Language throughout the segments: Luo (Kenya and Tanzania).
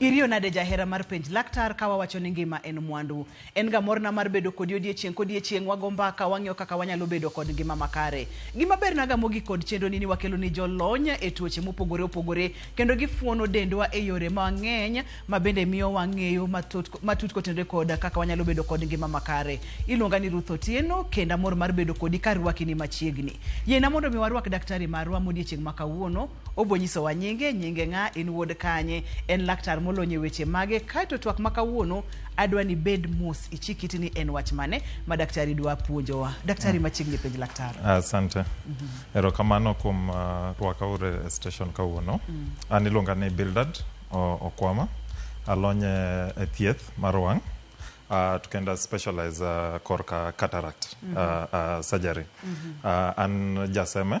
Iriyo nade jahera mar penj laktar ka wawacho ni ngima en mwandu. En ga morna mar bedo kodi odiechieng' kodiechieng' wago mbaka wang'iyo kaka wanyalo bedo kod ngima makare. Gima berna ga mogik kod chenro ni ni wakelo ni jolony e tuoche mopogore opogore kendo gifuono dendwa e yore mang'eny ma bende miyo wang'eyo matut matut kotenore kod kaka wanyalo bedo kod ngima makare. Iluonga ni Ruth Otieno kendo amor mar bedo kodi ka arwaki ni machiegni. Yiena mondo mi warwak daktari marwa modiechieng' ma kawuono Obonyisowa nyinge, nyinge ng'a, en wuod kanye, en laktar molony e weche mage, kaeto twak ma kawuono adwa ni bed mos ichik iti ni en wach mane ma daktari dwa puonjowa. Daktari machiegni penj laktar. Asante. Erokamano kuom ah, rwaka uru e station kawuono. An iluonga ni Bildad O- Okwama. Alony e e thieth mar wang'. ah, to kendo specialize ah, korka cataract ah, ah, surgery. Ah, an jaseme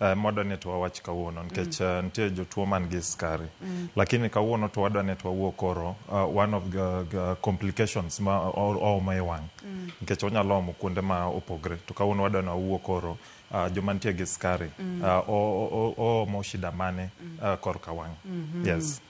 Uh, moda ni to wawach kawuono nikech uh, nitie jotuo man gi skari mm. lakini kawuono to wadwa ni to wawuo koro uh, one of the, the complications ma ooma e wang' mm. nikech onyalo omo kuonde ma opogre to kawuono wadwa ni wawuo koro uh, joma nitie gi skari mm. uh, oomo shida mane uh, korka wang' mm -hmm. yes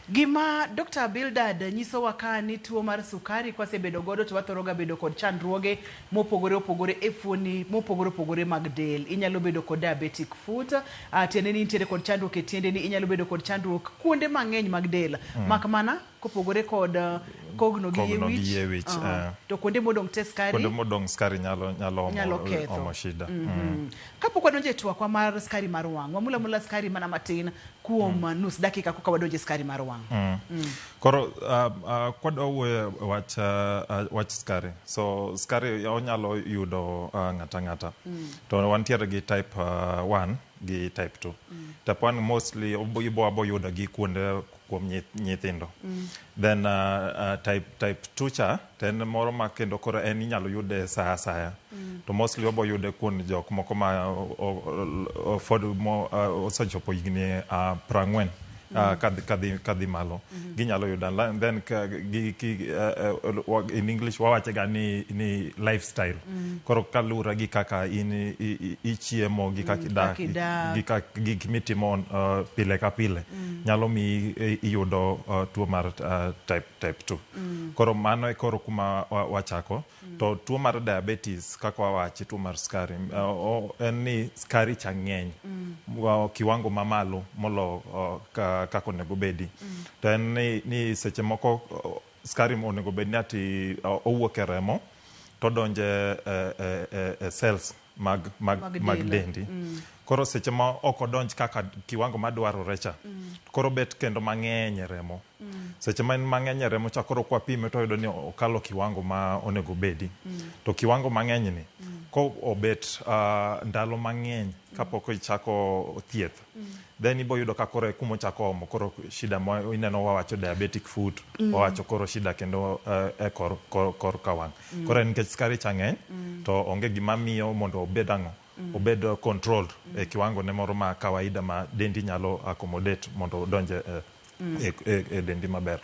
Gima Dokta Bildad nyisowa ka ni tuo mar sukari kwasebedo godo to wathoro ga bedo kod chandruoge mopogore opogore e fuoni mopogore opogore mag del. Inyalo bedo kod diabetic foot, ah, tiende ni intiere kod chandruok e tiendeni, inyalo bedo kod chandruok kuonde mang'eny mag del. Mak mana kopogore kod ah, kogno gi yie Kogno gi wich, yie wich, aha, eh. to kuonde modong' te skari Kuonde modong' skari nyalo, nyalo omo, Nyalo ketho. omo shida. Mm. Kapok wadonjo e twakwa mar skari mar wang', wamul amula skari mana matin kuom mm. nus dakika koka wadonjo e skari mar wang'. Mm. Mm. Koro uh, uh, kwadwa wuoyo e wach, uh, uh, wach skari. So skari onyalo yudo uh, ng'ata ng'ata. Mm. To wantiere gi type 1 uh, gi type 2. Mm. Type 1 mostly ibo abo yudo gi kuonde kuom nyith- nyithindo then uh, uh, type, type 2 cha to en moro ma kendo koro en inyalo yude saa asaya to mostly obo yude kuom jok moko ma o- o- o- fod mo- uh, osechopo higni uh, prang'wen Uh, kadhi, kadhi, kadhi malo ginyalo yudo unli- then ka, gi, ki, uh, uh, wa- in english wawachega ni, ni lifestyle koro kaluwore gi kaka in i- i- ichiemo gi kaka idak kaka idak. gi kak- gik mitimo uh, pile ka pile nyalo miyi eh, iyudo uh, tuo mar uh, type, type 2 mm. koro mano e koro kuma wachako mm. to tuo mar diabetes kaka wawachi tuo mar skari mm. uh, en ni skari cha ng'eny mm. uh, kiwango mamalo molo uh, kaka onego bedi mm. to en ni, ni seche moko uh, skari onego bed ni ati uh, owuok e remo to donje uh, uh, uh, cells mag, mag, Mag mag dela. dendi koro seche ma ok odonj kaka kiwango madwarore cha koro bet kendo mang'eny e remo seche ma en mang'eny e remo cha koro kwapime to wayudo ni okalo kiwango ma onego bedi to kiwango mang'eny ni ko obet ah, ndalo mang'eny kapok ichako thieth then ibo yudo ka koro e kuma ochako omo koro shida ma ineno wawacho diabetic foot wawacho koro shida kendo eh, e kor, kor, kor ka wang' koro en nikech skari cha ng'eny to onge gima miyo mondo obed ang'o obed eh, controlled e kiwango ne moro ma kawaida ma dendi nyalo accommodate mondo odonje eh, e, e, e dendi maber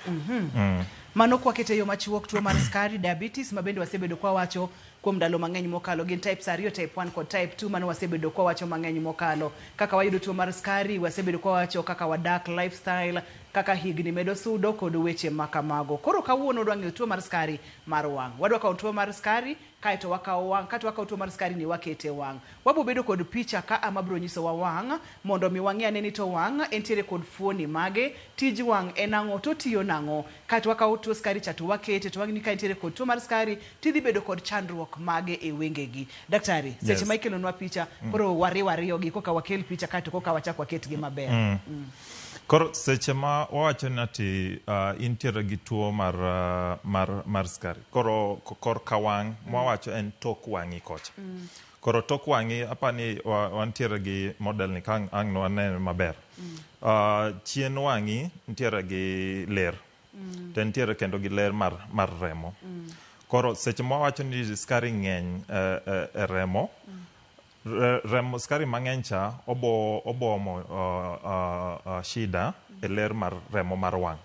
Mano kwakete e yo machuok tuo mar skari, diabetes, ma bende wasebedo kwa wacho kuom ndalo mang'eny mokalo. Gin types ariyo, type 1 kod type 2, mano wasebedo kwa wacho mang'eny mokalo. Kaka wayudo tuo mar skari, wasebedo kwa wacho kaka wadak, lifestyle, kaka higni medo sudo kod weche ma kamago. Koro kawuono wadwa ng'eyo tuo mar skari mar wang'. Wadwa kawo tuo mar skari Kae to wakawo wang', kae to wakawo tuo mar skari ni wakete e wang'. Wabiro bedo kod picha ka a ma biro nyisowa wang' mondo omi wang'e ane ni to wang' entiere kod fuoni mage, tij wang' en ang'o, to otiyo nang'o. Kae to wakawo tuo skari cha to wakete to wang'eni ka entiere kod tuo mar skari to idhi bedo kod chandruok mage e wengegi. Daktari, seche ma Yes. ikelonwa picha, koro wariw ariyogi koka wakel picha kae to koka wachak waketgi maber. Mm. Koro seche ma wawacho ni ati ah, intiere gi tuo mar ah, mar mar skari, Koro korka wang' mm. mwawacho en tok wang'i kocha. Mm. Koro tok wang'i apa ni wantiere gi model ni kang' ang' no ane maber. Mm. Uh, chien wang'i ntiere gi ler. Mm. To ntiere kendo gi ler mar, mar remo. Mm. Koro seche mwawacho ni skari ng'eny e, e, e remo, mm. remo skari mang'eny cha obo, obomo uh, uh, uh, shida mm. e ler mar remo mar wang'.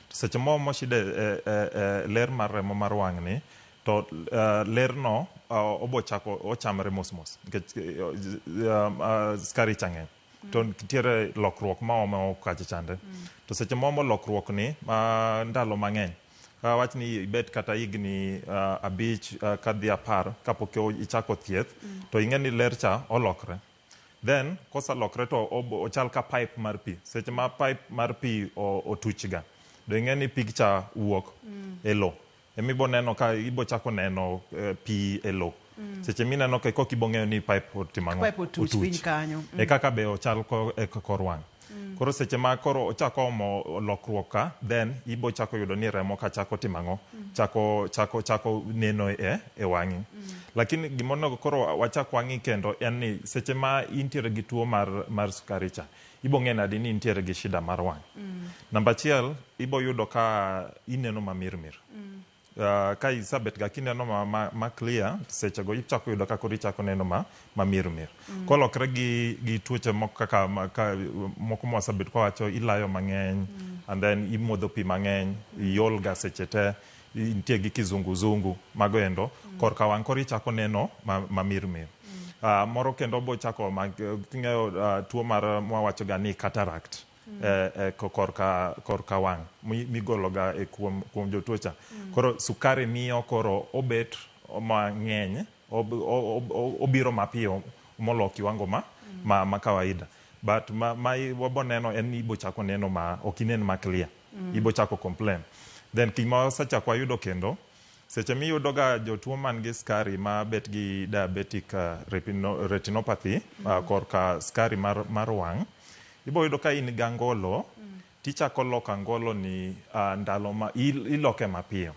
To seche mo moshide e, e, e ler mar remo mar wang'ni, to uh, lerno uh, obochako ochamre mos mos nikech uh, uh, skari cha ng'eny to nitiere lokruok ma ome okache chande to seche momo lokruok ni uh, ndalo mang'eny uh, wach ni ibet kata higni uh, abich uh, kadhi apar kapok o- ichako thieth to ing'e ni ler cha olokre Then koselokre to ochal ka pipe mar pi. Seche ma pipe mar pi otuchga, do ing'e ni pig cha wuok mm. e lo. Ema ibo neno ka ibo chako neno eh, pi e lo. Mm. Seche mineno ka kok ibo ng'eyo ni pipe otimo ang'o. Pipe otuch piny kanyo. Mm. E kaka be ochal e kor wang'. Koro seche ma koro ochako omo lokruok ka, then ibo chako yudo ni remo ka chako timo ang'o? Chako, chako, chako neno e, e wang'i. Lakini gima onego koro wachak wang'i kendo en ni seche ma intiere gi tuo mar, mar sukari cha, ibo ng'e nadi ni intiere gi shida mar wang'? Namba achiel, ibo yudo ka ineno ma mir mir. uh, ka isabet ga kineno ma, ma, ma clear sechego ichako yudo ka koro ichako neno ma, ma mir mir mm. kolokre gi, gi tuoche moko kaka ma, ka, moko mwasabet kwawacho ilayo mang'eny mm. and then imodho pi mang'eny mm. iol ga seche te nitie gi kizunguzungu mago endo mm. korka wang' koro ichako neno ma, ma mir mir mm. uh, moro kendo bochako king'eyo uh, tuo mar mwawachoga ni cataract mm. korka wang' migologa kuom jotuo cha. Koro sukari miyo koro obet mang'eny, obiro mapiyo molo kiwango ma kawaida. But ma wabo neno en ni ibochako neno ma ok inen ma clear. Ibochako complain. Then gik mwasechako wayudo kendo. Seche miyudo ga jotuo man gi skari ma bet gi diabetic retinopathy korka skari mar, mar wang', ibo yudo ka in ga ngolo tichako loko angolo ni uh, ndalo ma iloke mapiyo.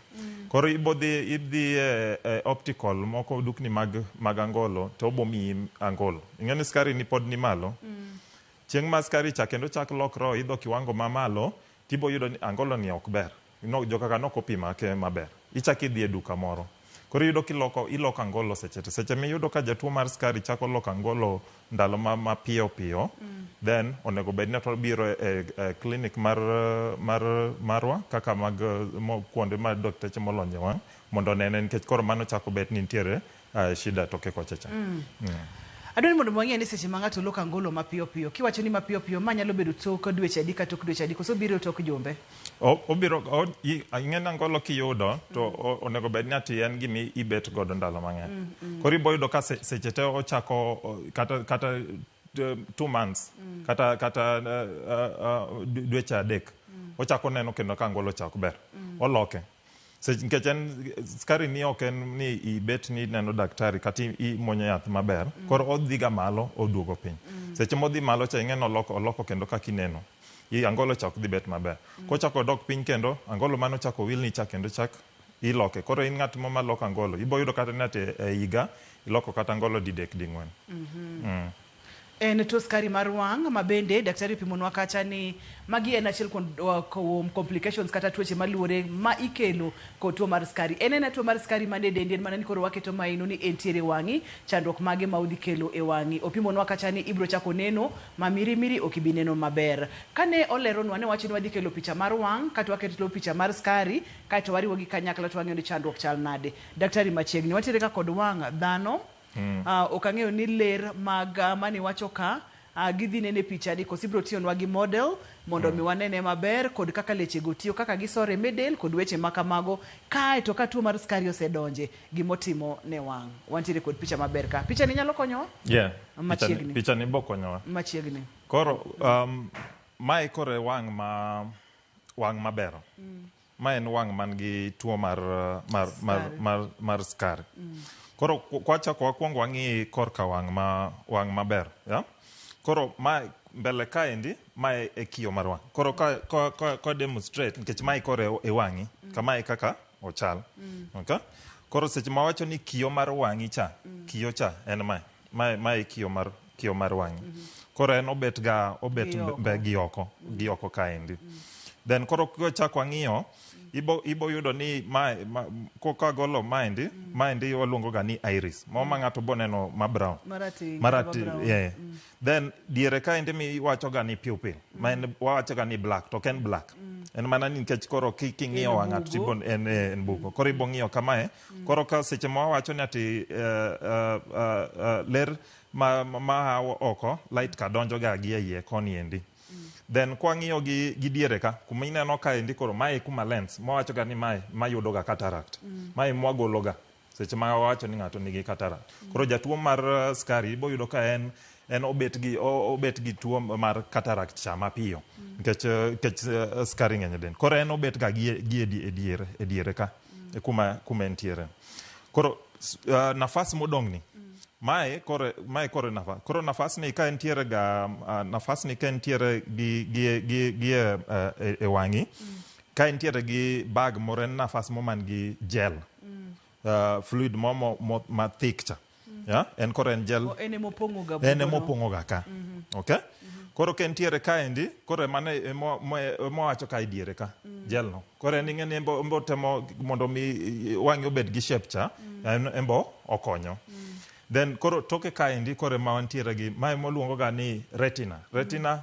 Koro ibo dhi idhi e, e optical moko dukni mag mag angolo to obo miyi angolo. Ing'e ni skari ni pod ni malo. Chieng' ma skari cha kendo chak lokro idho kiwango ma malo tibo yudo ni angolo ni ok ber. No, joka ka nok opima ake maber. Ichak idhi e duka moro. Koro iyudo kiloko, iloko angolo seche te. Seche miyudo ka jatuo mar skari chako loko angolo ndalo ma mapiyo piyo, then onego bed ni eka obiro e e klinik mar mar marwa kaka mag mo kuonde ma dakteche molony e wang' mondo onene nikech koro mano chako bet ni nitiere ah, shida toke kocha cha mm. Adwa ni mondo wang'e ni seche ma ng'ato loko angolo mapiyo piyo, kiwacho ni mapiyo piyo, ma nyalo bedo tok dweche adi ka tok dweche adi, koso biro tok jumbe? O- obiro o- i- ing'eni angolo kiyudo to o- onego bed ni ati en gima ibet godo ndalo mang'eny koro ibo yudo ka se- seche te ochako o- kata kata t- two months kata kata uh, uh, uh, dweche adek ochako neno kendo ka angolo ochako ber oloke Sech- nikech en skari ni ok en ni ibet ni ineno daktari kata i- imwonyo yath maber koro odhiga malo oduogo piny seche modhi malo cha ing'e ni oloko, oloko kendo kaka ineno I- angolo cha ok dhi bet maber kochako odok piny kendo angolo mane ochako wilni cha kendo chak iloke koro in ng'at mo maloko angolo iboyudo kata ni ati e higa iloko kata angolo didek ding'wen En tuo skari mar wang' ma bende daktari opimonwa kacha ni magi en achiel kuom kuom complications kata tuoche maluwore ma ikelo kod tuo mar skari. En aena tuo mar skari man e dendi en mana ni koro waketo mahino ni entiere e wang'i, chandruok mage ma odhi kelo e wang'i. Opimonwa kacha ni ibiro chako neno ma miri miri ok ibi neno maber. Kane oleronwa ne owacho ni wadhi kelo picha mar wang' kaeto waketo picha mar skari kaeto wariwo gi kanyakla to wang'iyo ni chandruok chal nade. Daktari machiegni, watiere ga kod wang' dhano. Uh, ok ang'eyo ni ler mag uh, mani wacho ka uh, gidhi nene pichani koso ibiro tiyonwa gi model mondo mi wanene maber kod kaka lechego tiyo kaka gisore me del kod weche ma kamago kae to ka tuo mar skari osedonje gimotimo ne wang' wantiere kod picha maber ka pichani nyalo konyowa yeah. Machiegni. pichani, pichani bokonyowa machiegni koro um, mae koro e wang' ma wang' mabero Ma en wang' man gi tuo mar, mar, mar, Skari. mar, mar skari. Koro ku- kwachako wakwongo wang'i korka wang' ma wang' maber. Yeah? Koro ma mbele kaendi ma e, e kiyo mar wang'. Koro ka ka ka, ka demonstrate nikech mae kore e wang'i. Kama e kaka ochal. Okay? Koro seche ma wacho ni kiyo mar wang'i cha, kiyo cha en mae. mae mae kiyo mar kiyo mar wang'e koro en obet ga obet Gi mbe- oko. mbe- gi oko gi oko kaendi then koro kichako ang'iyo ibo ibo yudo ni ma, ma koka golo maendi maendi waluongo ga ni iris ma ma ng'ato boneno ma brown Marateng', marati kata brown. yeah. then diere kaendi miwacho ga ni pupil ma en wawacho ga ni black to ok en black en mana ni nikech koro ki- king'iyo En wang'ato bugo. tibon en, eh, en bugo koro ibo ng'iyo kamae Koro ka seche ma wawacho ni ati eh, eh, eh, eh, ler ma, ma, ma a oko light ka donjo ga gi eiye koni endi then kwang'iyo gi, gi diere ka kuma ineno ka endi koro mae e kuma lens mwawacho ga ni mae mayudo ga cataract mae mwagolo ga seche ma wawacho ni ng'ato nigi cataract koro jatuo mar eh, skari iboyudo ka en en obet gi o- obet gi tuo mar cataract cha mapiyo nikech eh, nikech eh, skari ng'eny e del koro en obet ga gi e- gi e di- e diere e diere ka e kuma kuma entiere koro s- ah, nafas modong'ni mae kore mae kore nafas koro nafas ni ka entiere ga ah, nafas ni ka entiere gi gi gi gi eh, e, e wang'i ka entiere gi bag moro en nafas mo man gi gel ah, fluid mo mo- mo- ma thick cha ya en koro en jal En ema opong'oga en bugono. ema opong'oga ka okay koro ka entiere kaendi koro emane emo- mo- emowacho ka idiere ka jelno koro en ing'eni embo embo temo mondo mi i- i- wang'e obed gi shape cha en embo okonyo then koro toke kaendi koro ema wantiere gi ma emoluongoga ni retina retina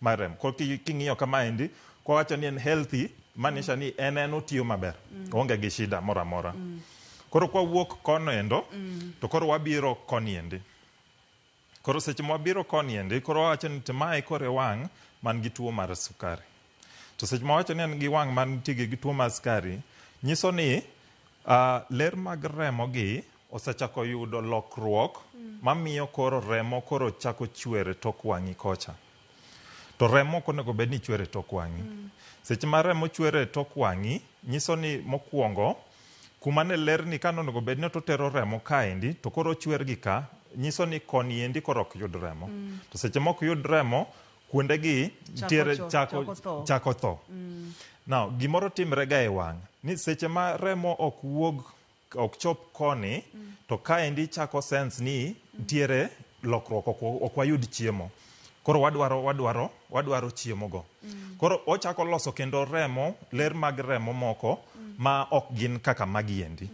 mar remo. Koro ki- king'iyo kama endi kwawacho ni en healthy manisha ni en en otiyo maber oonge gi shida moro amora koro kwawuok kono endo to koro wabiro koni endi koro seche mwabiro koni endi koro wawacho ni to mae koro e wang' man gi tuo mar sukari to seche mwawacho ni en gi wang' man nitie gi tuo mar sukari nyiso ni ah, ler mag remo gi Osechako yudo lokruok mamiyo koro remo koro chako chwer e tok wang'i kocha. To remo ok onego bed ni chwer e tok wang'i. Seche ma remo chwer e tok wang'i, nyiso ni mokwongo kuma ne lerni ka ne onego bed ni to tero remo kaendi to koro ochwer gi ka, nyiso ni koni endi koro ok yud remo. To seche mok yud remo, kuonde gi nitiere cho- chako, chako tho. chako tho. Now, gimoro timre ga e wang' ni seche ma remo ok wuog ok chop koni to kaendi chako sense ni ntiere lokruok ok wa- ok wayud chiemo koro wadwaro wadwaro wadwaro chiemo go koro ochako loso kendo remo ler mag remo moko ma ok gin kaka magiendi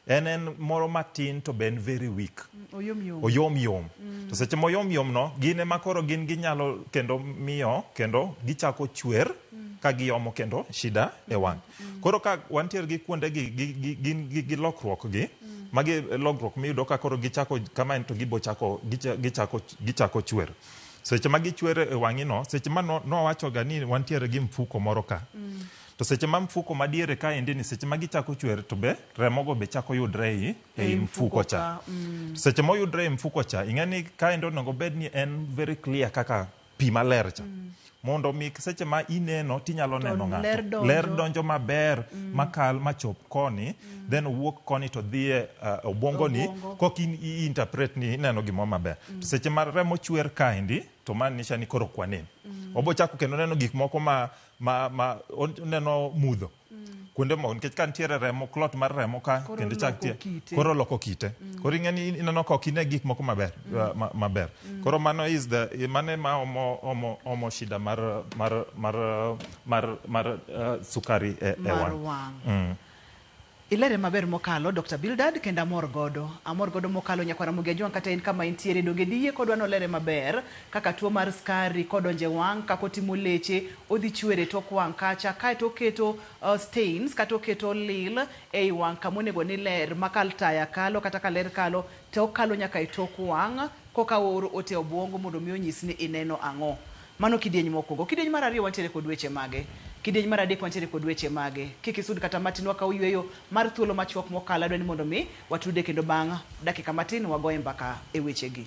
en en moro matin to be en very weak oyom yom oyom yom to seche moyom yom no gin ema koro gin ginyalo kendo miyo kendo gichako chwer ka giomo kendo shida e wang' Koro ka wantiere gi kuonde gi gi- gi- gin gi gi lokruok gi magi lokruok miyudo ka koro gichako kama en to gibochako gicha- gichako gichako chwer. Seche ma gichwer e wang'i no, seche ma no- nowacho ga ni wantiere gi mfuko moro ka. To seche ma mfuko madiere ka endi ni seche ma gichako chwer to be remogo be chako yudre ei ei mfuko cha. Seche moyudre e mfuko cha, ing'e ni kaendi onego bed ni en very clear kaka pi maler cha mm. mondo mi seche ma ineno tinyalo neno ng'ato ler donjo maber mm. makal machop koni mm. then owuok koni to dhie uh, obwongoni Obongo. kok in, interpret ni ineno gimoro maber mm. to seche ma remo chwer kaendi to man nisha ni koro kwanen mm. obochako kendo neno gik moko ma, ma, ma oneno mudho kuonde moko nikech ka nitiere remo clot mar remo ka Koro kendo chak loko tie kite. koro loko kite koro ing'e ni ineno ka ok ine gik moko maber uh, ma- maber koro mano is the mano ema omo, omo, omo shida mar mar mar uh, mar, mar uh, sukari e, e mar wang' wang' ilere maber mokalo dr bildad kendo amor godo amor godo mokalo nyakwara mogi ajwang' kata en kama entiere donge diyie kodwa nolere maber kaka tuo mar skari kodonje wang' kako timo leche Odhi chwere e tok wang' kacha, kae to oketo stains kata oketo lil e i wang' ka ma onego ni ler ma ka taya kalo kata ka ler kalo to okalo nyaka e tok wang' ko ka ooro ote e obwongo mondo mi onyis ni ineno ang'o. Mano kidieny ma okuongo. Kidieny mar ariyo wantiere kod weche mage? Kidieny mar adek wantiere kod weche mage? Kik isud kata matin, wakawo yueyo mar thuolo ma chuok mo kalo, adwa ni mondo mi watude kendo bang' dakika matin wagoye mbaka e weche gi.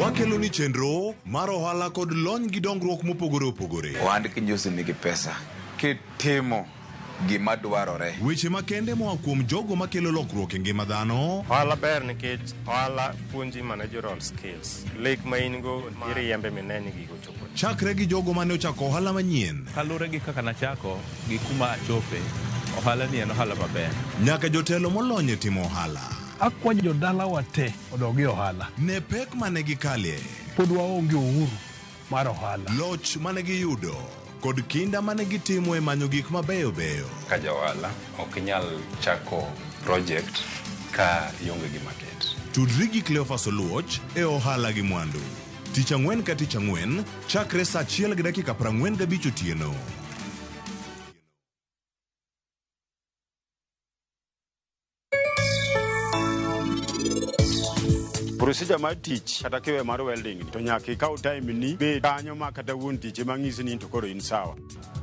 Wakelo ni chenro mar ohala kod lony gi dongruok mopogore opogore. Ohand kinji osemigi pesa kitimo gima dwarore. Weche makende moa kuom jogo makelo lokruok e ngima dhano. Ohala ber nikech ohala puonji managerial skills. Lek ma in go iriembe mine ni gigo chopo. Chakre gi jogo mane ochako ohala manyien. Kalure gi kaka nachako gi kuma achope, ohala ni en ohala maber. Nyaka jotelo molony e timo ohala. Akwayo jodalawa te odog e ohala. Ne pek ma ne gikalie. Pod waonge uhuru mar ohala. Loch ma ne giyudo kod kinda ma ne gitimo e manyo gik mabeyo beyo. Ka ja ohala, ok inyal chako project ka ionge gi market. Tudri gi Cleophas Oluoch e Ohala gi Mwandu, Tich Ang'wen ka Tich Ang'wen chakre saa achiel gi dakika prang'wen gabich otieno. procedure mar tich kata kiwe mar welding ni, to nyaka ikaw time ni bed kanyo ma kata wuon tich ema ng'isi ni to koro in sawa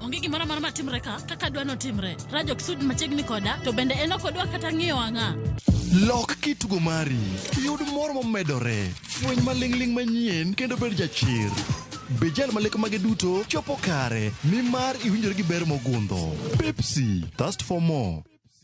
onge gimoro amora matimre ka kaka dwa notimre rajok sud machiegni koda to bende en ok odwa kata ng'iyo ang'a Lok kitugo mari, yud mor momedore, fweny maling'ling' manyien kendo bed jachir. Be jal ma lek mage duto chopo kare, nimar iwinjori gi ber mogundho. Pepsi, thirst for more.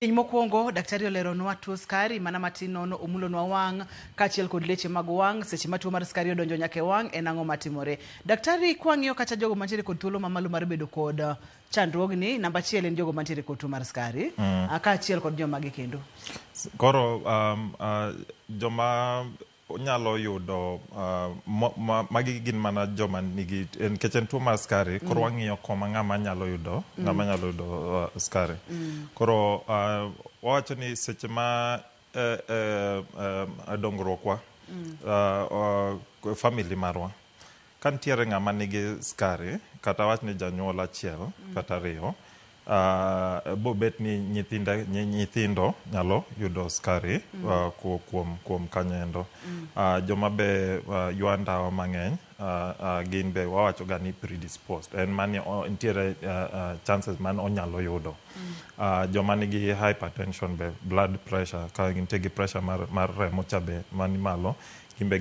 Piny mokwongo, daktari oleronwa tuo skari mana matin nono, omulonwa wang' kaachiel kod leche mag wang'. Seche ma tuo mar skari odonjo nyaka e wang' en ang'o matimore? Daktari, kwang'iyo kacha jogo mantiere kod thuolo mamalo mar bedo kod uh, chandruogni, namba achiel en jogo mantiere kod tuo mar skari mm. kaachiel kod jomagi kendo. Koro um, uh, joma onyalo yudo uh, magi gin mana joma nigi nikech en tuo mar skari mm. koro wang'iyo koma ng'ama nyalo yudo mm. ng'ama nyalo yudo uh, skari mm. koro uh, wawacho ni seche ma eh, eh, eh, dongruokwa mm. uh, uh, family marwa Ka nitiere ng'ama nigi skari kata awach ni janyuol achiel kata ariyo, ah, bobet ni nyithinde- nyi- nyithindo nyalo yudo skari Mm. ah, ku- kuom kuom kanyoendo. Mm. Ah, joma be ah, ywa ndawa mang'eny ah, ah, gin be wawachoga ni predisposed en mani o- nitiere ah, ah, chances man onyalo yudo Mm. Ah, joma nigi hypertension be blood pressure ka nitie gi pressure mar, mar remo cha be man malo gin be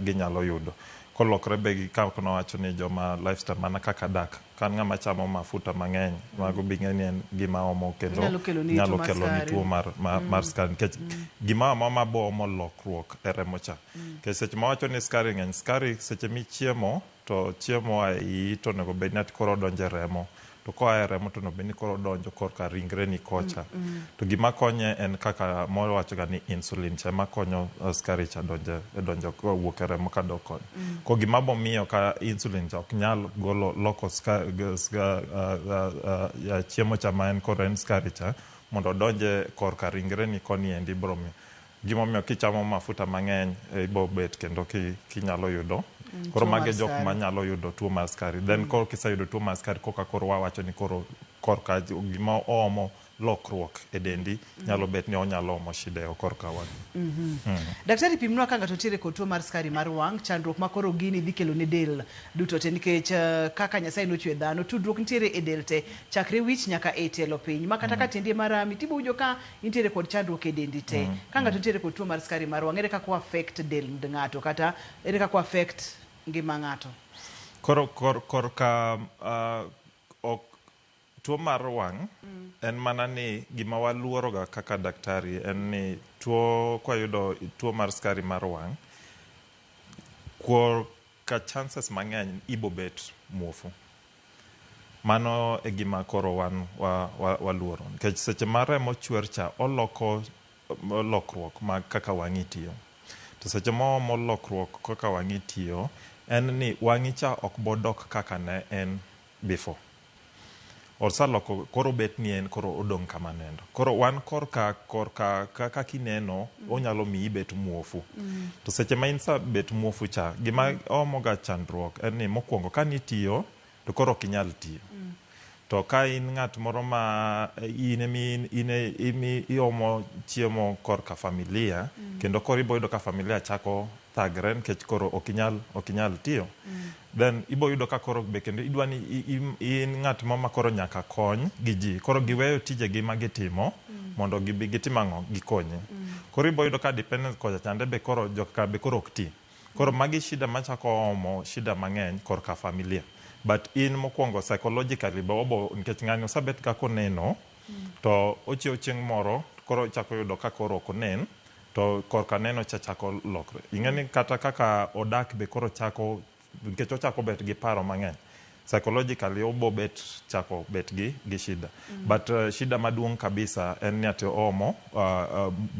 ginyalo yudo. Kolokre be gikaw kendo wacho ni joma lifestyle mana kaka dak. Ka an ng'ama chamo mafuta mang'eny, mago be ing'eni en gima omo kendo Nyalo keloni tuo nyalo mar keloni skari. tuo mar ma mar skari nikech gimoro amora ma bo omo lokruok e remo cha. Nikech seche ma wacho ni skari ng'eny, skari seche michiemo To chiemo moa e iyi to onego bed ni ati koro odonjo e remo. To koa e remo to onego bed ni koro odonjo korka ringreni kocha. To gima konye en kaka mwawachoga ni insulin cha ema konyo skari cha donjo e donjo wuok e remo kadok koni. Koro gima biro miyo ka insulin cha ok nyal golo loko ska ska chiemo cha ma en koro en skari cha mondo odonj korka ringreni koni endi biro miyo Gimomiyo kichamo mafuta mang'eny ibobet kendo kinyalo yudo. Koro mago e jok manyalo yudo tuo mar skari. Then koro kiseyudo tuo mar skari koka koro wawacho ni koro korka gima oomo lokruok e dendi nyalo bet ni onyalo omo shida e korka wang'. Daktari pimnwa ka ng'ato nitiere kod tuo mar skari mar wang', chandruok ma koro gini dhi kelo ne del duto te nikech kaka Nyasaye nochwe dhano tudruok nitiere e del te chakre wich nyaka e tielo piny ma kata ka tiendi ema rami tibowinjo ka intiere kod chandruok e dendi te mm. ka ng'ato mm. nitiere kod tuo mar skari mar wang' ere kaka o affect del ng'ato kata ere kaka o affect ngima ng'ato koro kor, kor ka uh, ok tuo mar wang' mm. en mana ni gima waluoroga kaka daktari en ni tuo kwayudo tuo mar skari mar wang' kor ka chances mang'eny ibobet muofu Mano e gima koro wan wa, wa, waluoro. Nikech seche ma remo chwer cha, oloko lokruok ma kaka wang'i tiyo. To seche ma oomo lokruok kaka wang'i tiyo, en ni wang'i cha ok bodok kaka ne en before. Osaloko, koro obet ni en koro odong' kama ne en. Koro wan korka korka ka kaka ineno onyalo miyi ibet muofu. To seche ma in sa bet muofu cha, gima omoga chandruok en ni mokwongo ka nitiyo to koro ok inyal tiyo. To ka in ng'at moro ma in emi in e imi iomo chiemo korka familia kendo koro iboyudo ka familia chako thagre nikech koro ok inyal ok inyal tiyo then ibo yudo ka koro be kendo idwa ni i- i- in ng'at ma ma koro nyaka kony gi ji koro giweyo tijegi ma gitimo mondo gibi gitim ang'o gikonyi koro ibo yudo ka dependence kocha chande be koro joka be koro ok ti koro magi shida machako omo shida mang'eny korka familia but in mokwongo psychologically be obo nikech ng'ani osebet kaka oneno to ochiew chieng' moro koro ichako yudo ka koro ok onen To korka neno cha chako lokre. Ing'e ni kata kaka odak be koro chako, nikech ochako bet gi paro mang'eny. Psychologically obo bet chako bet gi gi shida. But shida maduong' kabisa en ni ati oomo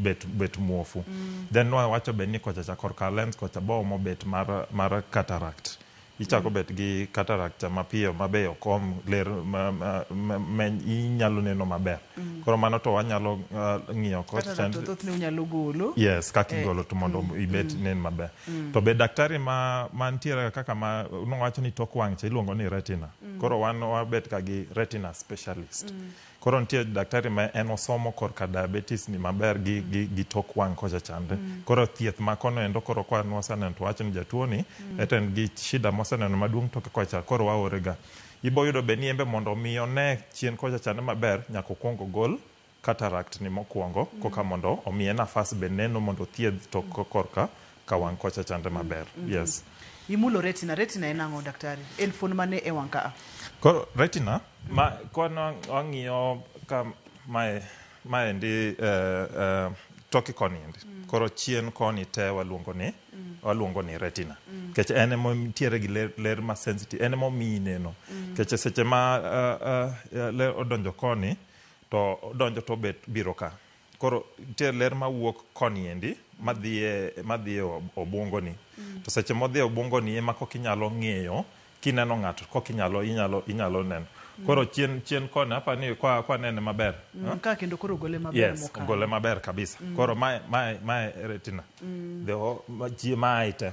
bet bet muofu. Then wawacho be ni kocha cha korka lens kocha be oomo bet mar mar cataract. Ichako bet gi cataract cha mapiyo ma be ok om ler ma, ma, ma, ma inyalo neno maber. Koro mano to wanyalo uh, ng'iyo kod Kata chand- to thothne unyalo golo. yes kaka Eh, igolo to mondo ibet nen maber to be daktari ma mantiere kaka ma nowacho ni tok wang' cha iluongo ni retina koro wan wabet ka gi retina specialist Koro nitie daktari ma en osomo korka diabetes ni maber gi, mm. gi, gi tok wang' kocha chande. Mm. Koro thieth ma kono endo koro kwa nwaseneno to wacho ni jatuo ni mm. ete en gi shida moseneno maduong' toke kocha koro waorega. Ibo yudo be ni embe mondo mi one chien kocha chande maber nyaka okwong ogol cataract ni mokwongo mm. koka mondo omiye nafas be neno mondo thiedh to mm. korka ka wang' kocha chandre maber. Yes. Imulo retina. Retina en ang'o daktari? En fuon mane e wang' kaa? Koro retina, ma kwana wang'iyo ka mae maendi eh, eh, toki koni endi. Koro chien koni te waluongo ni waluongo ni retina. Nikech en ema nitiere gi ler, ler ma sensitive, en ema omiyi neno. Nikech seche ma eh, eh, eh, ler odonjo koni to odonjo to obet biro ka. Koro nitie ler mawuok koni endi madhiye madhiye obwongoni. To seche modhiye obwongoni ema kok inyalo ng'eyo kineno ng'ato kok inyalo inyalo inyalo neno. Koro chien chien koni apa ni kwa kwa nene maber. Mm, ka kendo koro ogole maber Yes, mokalo. ogole maber kabisa. Koro mae mae mae retina. The o- ma- chie mae te.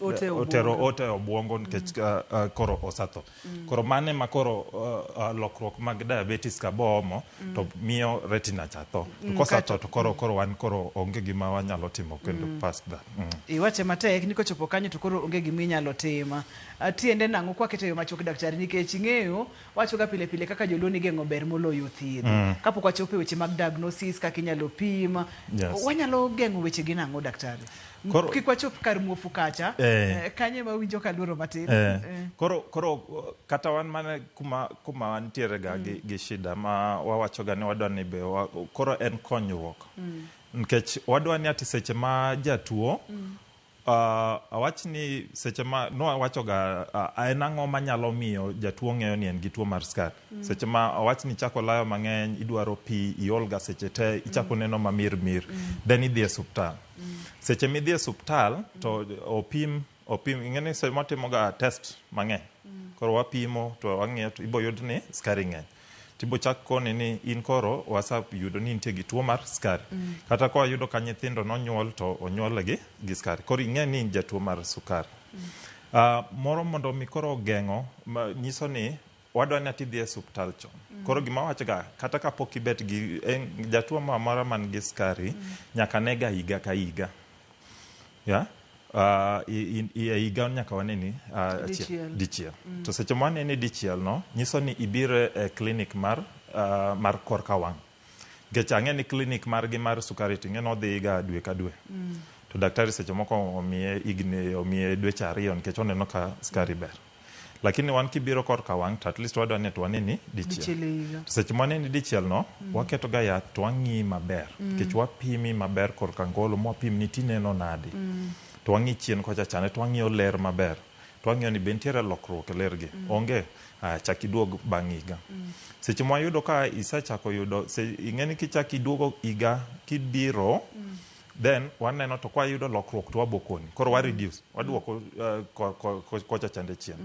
Ote eh, obwongo. otero ote e obwongo nikech ah, ah, koro osetho koro mano ema koro ah, ah, lokruok mag diabetes ka boomo to miyo retina cha tho to kosetho to koro koro wan koro onge gima wanyalo timo kendo past that Mm. iwache matek ni kochopo kanyo to koro onge gima inyalo timo Ah, tiende nang'o kwakete e yo machuok daktari nikech ing'eyo wachoga pile pile kaka joluo ni geng'o ber moloyo thiedho kapok wachopo e weche mag diagnosis kaka inyalo pim Yes. wanyalo geng'o wechegi nang'o daktari Koro- kik wachop kar muofu kacha Eh. Eh, kanye ma winjo ka luoro matin Eh, Eh. koro koro uh, kata wan mana kuma kuma wantiere ga gi, gi shida ma wawacho ga ni wadwa ni be wa, koro en konyruok Mm. nikech wadwa ni ati seche ma jatuo Mm. uh, awach ni seche ma nowacho ga uh, en ang'o manyalo miyo jatuo ng'eyo ni en gi tuo mar skari Seche ma owach ni ichako layo mang'eny, idwaro pi, iol ga seche te, ichako neno mamir mir, then idhi e suptal. Seche midhi e suptal to opim, opim, ing'e ni seche watimo ga test mang'eny. Koro wapimo to wang'iyo to ibo yud ni skari ng'eny. Tibo chak koni ni in koro wasa yudo ni intie gi tuo mar skari. Kata kwa yudo ka nyithindo nonyuol to onyuol gi, gi skari. Koro ing'e ni in jatuo mar sukari. Ah, moro mondo mi koro geng'o, ma nyiso ni Owadwa ni ati idhi e suptal chon. Koro gima awachoga, kata ka pok ibet gi eh, jatuo moro amora man gi skari, nyaka nega higa ka higa. Yeah? Ah, i- i- i- e higa nyaka wane ni ah, achiel- Dichiel. dichiel. To seche ma wane ni dichiel no, nyiso ni ibiro e klinik mar, ah, mar korka wang'. Nikech ang'e ni klinik margi mar sukari ting'e ni odhiga dwe ka dwe. To daktari seche moko omiye higni, omiye dweche ariyo nikech oneno ka skari ber. Lakini wan kibiro kor ka wang' to at least wadwa ni to waneni dichiel. Dichiel e higa. To seche ma waneni dichiel no, waketo ga yath to wang'iyi maber. Nikech wapimi maber kor ka ngolo ma wapim ni tineno nadi. To wang'i chien kocha chande to wang'iyo ler maber. To wang'iyo ni be nitiere lokruok e ler gi. Onge? Aya chak iduog bang' higa. Seche ma wayudo ka isechako yudo, se, ing'eni kichak iduogo higa kibiro, then waneno to kwa yudo lokruok to wabokoni koro wa reduce waduoko uh, ko- ko- ko- kocha chande chien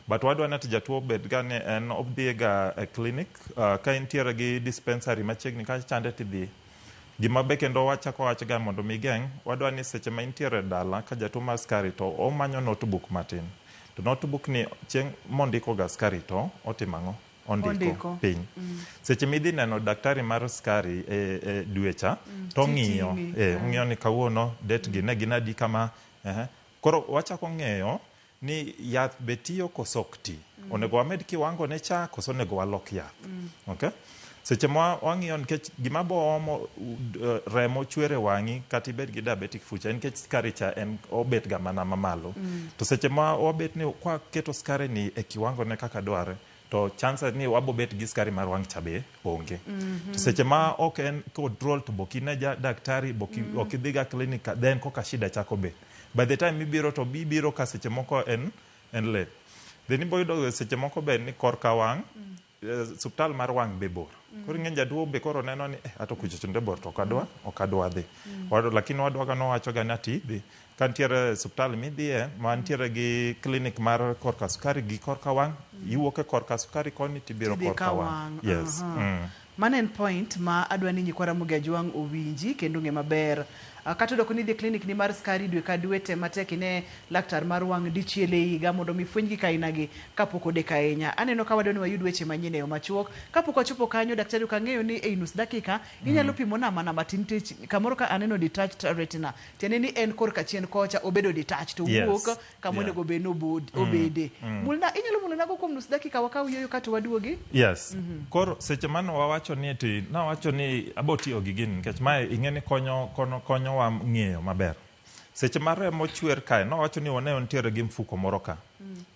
but wadwa ni ati jatuo obed ga ni en odhiye ga e clinic uh, ka intiere gi dispensary machiegni ka chande tidhiye gima be kendo wachako wach ga mondo mi geng' wadwa ni seche ma intiere e dala ka jatuo mar skari to omanyo notebook matin to notebook ni chieng' mondiko ga skari to otimo ang'o ondiko piny seche midhi neno daktari mar skari e, e dwe cha to ong'iyo Titini. eh, ong'iyo ni kawuono det gi ne gin adi kama eh. koro wachako ng'eyo ni yath be tiyo koso ok ti onego wamed kiwango ne cha koso onego walok yath okay? seche ma wa- wang'iyo nikech gima boomo uh, remo chwer e wang'i kata ibed gi diabetic foot en nikech skari cha en obet ga mana mamalo to seche ma wabet ni kwaketo skari ni e kiwango ne kaka dwarre to chances ni wabo bet gi skari mar wang' cha be onge. To seche ma ok en control to bok ine ja daktari, bok i- ok idhiga clinic ka- then koka shida chako bet. By the time ibiro to bi- ibiro ka seche moko en en late. Then ibo yudo seche moko be ni korka wang' eh, suptal mar wang' be bor. Koro ing'e jaduo be koro neno ni eh ato kuchocho nde bor to ok adwa ok adwa dhi. Wado lakini wadwaga nowachoga ni ati idhi Ka nitiere suptal midhiye ma nitiere gi klinik mar korka sukari gi korka wang', iwuok e korka sukari koni tibiro Tidhi korka ka wang'. wang'. Yes. Aha. Mm. Mano en point ma adwa ni nyikwa Ramogi Ajwang' owinji kendo ong'e maber. Ah, Kata oyudo koni idhi e klinik ni mar skari dwe ka dwe, tem matek ine laktar mar wang' dichiel e higa mondo mi ifweny gik aina gi kapok odeko ahinya. Aneno ka wadwa ni wayud weche manyien e yo machuok. Kapok wachopo kanyo, daktari ok ang'eyo ni ei nus dakika, inyalo pimona mana matin tich kamoro ka aneno detached retina. tiende ni en korka chien kocha obedo detach to Yes. wuok kama Yeah. onego bed ni obod- Mm. obede Mm. mulna inyalo mulonago kuom nus dakika wakaw yueyo kato waduogi yes koro seche mane wawacho ni ti nawacho ni abo tiyo gi gini nikech mae ing'e ni konyo kono- konyowa ng'eyo maber seche ma remo chwer kae nawacho ni wane nitiere gi mfuko moro ka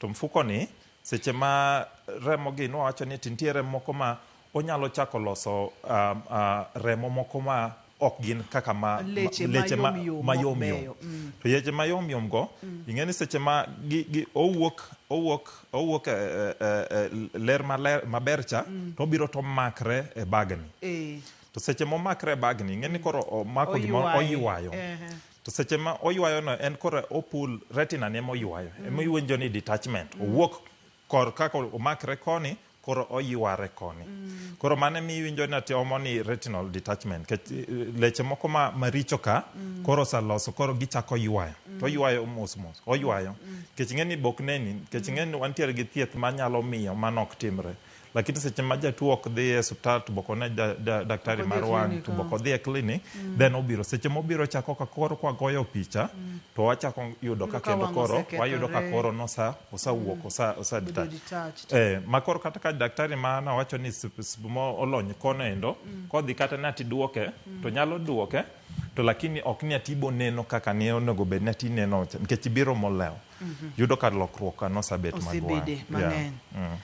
to mfuko ni seche ma remo gi nawacho ni ti nitie remo moko ma Onyalo chako loso remo moko ma ok gin kaka ma leche mayom yom to yeche mayom yom go ing'e ni seche ma owuok owuok owuok ler maler maber cha to obiro to omakre e bagni to seche momakre e bagni ing'e ni koro omako gimoro oywayo to seche ma oywayo no en koro opul retina ne moywayo ema iwinjo ni detachment owuok kor ka omakre koni koro oyware koni mm. koro mane mi iwinjo ni ati omo ni retinal detachment ke eh, leche moko ma maricho ka mm. koro saloso koro gichako ywayo mm. to ywayo mos mos oywayo mm. kech ng'eni bok neni kech mm. ng'eni wantiere gi thieth manyalo miyo mano ok timre lakini seche ma jatuo ok dhi e suptal to boko ne da, da, daktari mar wang' to boko dhi e clinic mm. then obiro seche mobiro chako ka koro kwagoyo picha mm. to wachako yudo ka kendo koro wayudo ka koro nosa osawuok mm. osa osa detach eh makor kata ka daktari ma na wacho ni mo olony kono endo mm. kodhi kata na ti duoke mm. to nyalo duoke to lakini ok ni atibo neno kaka ne onego bed na ti neno nikech biro molewo mm -hmm. yudo ka lokruok kano sabet magwa yeah. mm.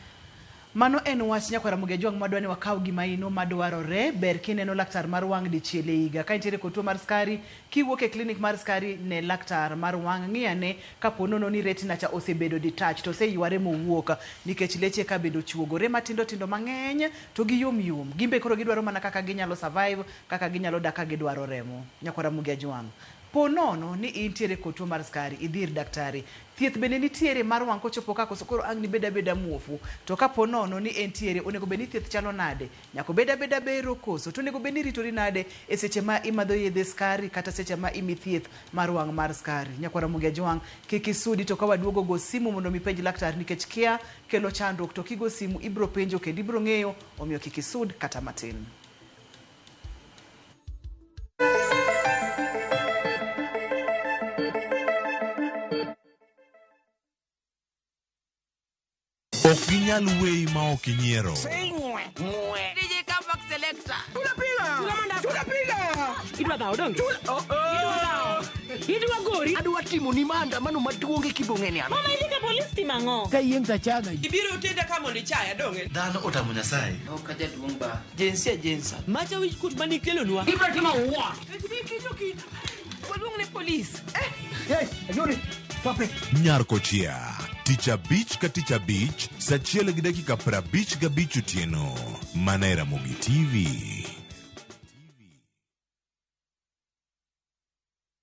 Mano en wach nyakwaramogi ajwang madwa ni wakaw gima ino madwarore ber kineno laktar mar wang dichiel e higa ka intiere kod tuo mar skari kiwuok e clinic mar skari ne laktar mar wang ngi ane kapo nono ni retina cha osebedo detached oseyware mowuok nikech leche eka bende ochuogore matindo tindo mangeny to gi yom yom gimbe koro gidwaro mana kaka ginyalo survive kaka ginyalo dak ka gidwaro remo nyakwaramogi ajwang Po nono ni intiere kod tuo mar skari, idhi ir daktari. Thieth bende nitiere mar wang' kochopo ka koso koro ang'ni bed abeda muofu. To ka po nono ni entiere, onego bed ni thieth chalo nade? Nyaka obed abeda bero koso? To onego bed ni iritori nade e seche ma imadho yedhe skari kata seche ma imi thieth mar wang' mar skari? Nyakwa Ramogi Ajwang', kik isudi to ka waduogo go simu mondo mi ipenj laktar nikech kia kelo chandruok to kigo simu ibro penjo kendo ibro ng'eyo omiyo kik isud kata matin. Ok ginyal weyi ma ok inyiero. DJ Comeback Selector. Idwa dhawo donge? Idwa gori? Adwa timo ni maandamano maduong' e kibong'eni ano. Mama idhi ka polis timo ang'o? Ka yieng' tachaga. Ibiro tenda ka mondo ichaya donge? Dhano otamo Nyasaye. Jinsia jinsa. Macha wich kut mani kelonwa. Ibra timo what? Waluong ne polis. Yes, ajuri. Pape. Nyarkochia, tich abich ka tich abich, saa achiel gi dakika prabich gabich otieno. Mana e Ramogi TV.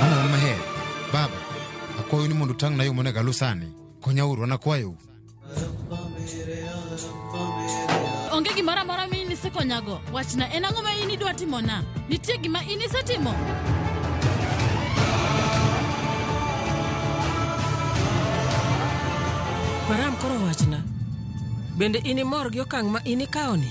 Mama maher, baba, akwayo ni mondo utang'na yo monego aluw sani. Konyauru, anakwayou. onge gimoro amora ma in isekonyago wachna en ang'o ma in idwa timona nitie gima in isetimo Maram koro wachna. Bende inimor gi okang' ma inikawoni?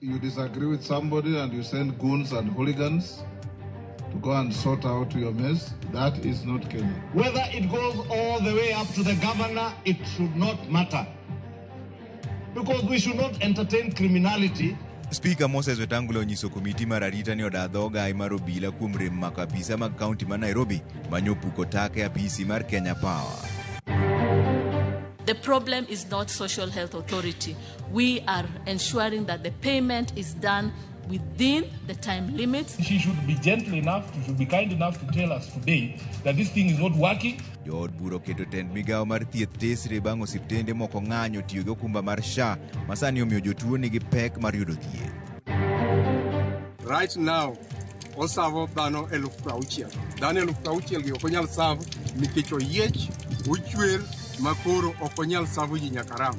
You disagree with somebody and you send goons and hooligans to go and sort out your mess. That is not Kenya. Whether it goes all the way up to the governor, it should not matter. Because we should not entertain criminality Spika Moses Wetangula onyiso komiti mar arita ni oda dhoga mar obila kuom rem mako apisa mag kaunti ma Nairobi manyo opuko taka e apisi mar Kenya Power. The problem is not Social Health Authority. We are ensuring that the payment is done within the time limits. She should be gentle enough, she should be kind enough to tell us today that this thing is not working. Jood bura oketo tend migawo mar thieth tesre bang' osiptende moko ng'anyo tiyo gi okumba mar SHA ma sani omiyo jotuo nigi pek mar yudo thieth. Right now, osavo dhano eluf prauchiel. Dhano eluf prauchiel gi ok onyal savo nikech oyiech, ochwer, makoro ok onyal savo ji nyaka ram.